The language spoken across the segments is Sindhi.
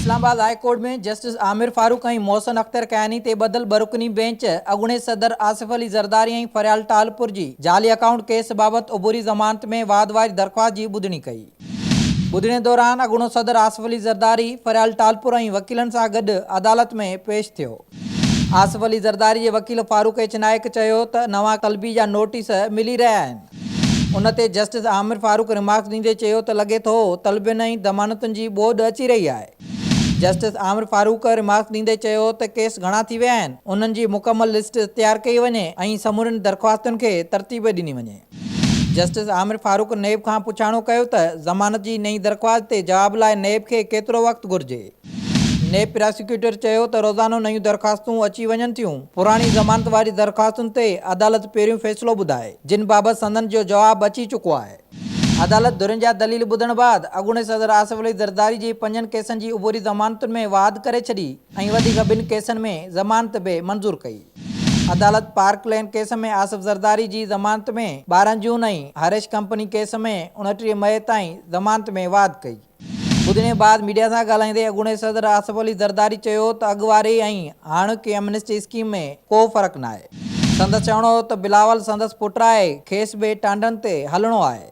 اسلام آباد high court ۾ justice Aamir Farooq ۽ Mohsin Akhtar Kiyani تي ٻڌل ٻه رڪني بئنچ اڳوڻي صدر آصف علي زرداري ۽ فريال ٽالپر جي جعلي اڪائونٽ ڪيس بابت عبوري ضمانت ۾ واڌ واري درخواست جي ٻڌڻي ڪئي. ٻڌڻي دوران اڳوڻو صدر آصف علي زرداري، فريال ٽالپر ۽ وڪيلن سان گڏ عدالت ۾ پيش ٿيو. آصف علي زرداري جي وڪيل فاروق ايڇ نائيڪ چيو ته نوان طلبي جا نوٽيس ملي رهيا آهن. ان تي جسٽس عامر فاروق ريمارڪس ڏيندي چيو ته لڳي ٿو طلبين ۽ ضمانتن جي ٻوڏ اچي رهي آهي. جسٽس عامر فاروق ريمارڪس ڏيندي چيو ته ڪيس گهڻا ٿي ويا آهن، انهن جي مڪمل لسٽ تيار ڪئي وڃي ۽ سمورين درخواستن کي ترتيب ڏني وڃي. جسٽس عامر فاروق نيب کان پڇاڻو ڪيو ته ضمانت جي نئين درخواست تي جواب لاء نيب کي ڪيترو وقت گهرجي؟ نيب پراسيڪيوٽر چيو ته روزانو نيون درخواستون اچي وڃن ٿيون، پراڻي ضمانت واري درخواستن تي عدالت پهريون فيصلو ٻڌائي، جن بابت سندن جو جواب اچي چڪو آهي. عدالت ڌرين جا دليل ٻڌڻ بعد اڳوڻي صدر آصف علي زرداري جي پنجن ڪيسن جي عبوري ضمانتن ۾ واڌ ڪري ڇڏي ۽ وڌيڪ ٻن ڪيسن ۾ ضمانت به منظور ڪئي. عدالت park lane case ۾ Asif Zardari جي ضمانت ۾ ٻارهن جون ۽ هريش ڪمپني ڪيس ۾ اڻٽيهه مئي تائين ضمانت ۾ واڌ ڪئي. ٻڌڻي بعد ميڊيا سان ڳالهائيندي اڳوڻي صدر آصف علي زرداري چيو ته اڳ واري ۽ هاڻوڪي ايمنسٽي اسڪيم ۾ ڪو فرق ناهي. سندس چوڻو هو ته بلاول سندس پٽ آهي، کيس به ٽانڊن تي هلڻو آهي.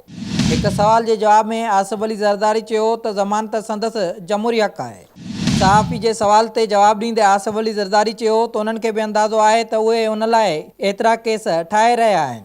هڪ سوال جي جواب ۾ آصف علي زرداري چيو ته ضمانت سندس جمهوري حق آهي. صحافي جي سوال تي جواب ڏيندي آصف علي زرداري چيو ته انهن کي به اندازو آهي ته اهي ان لاء ايترا ڪيس ٺاهي رهيا آهن.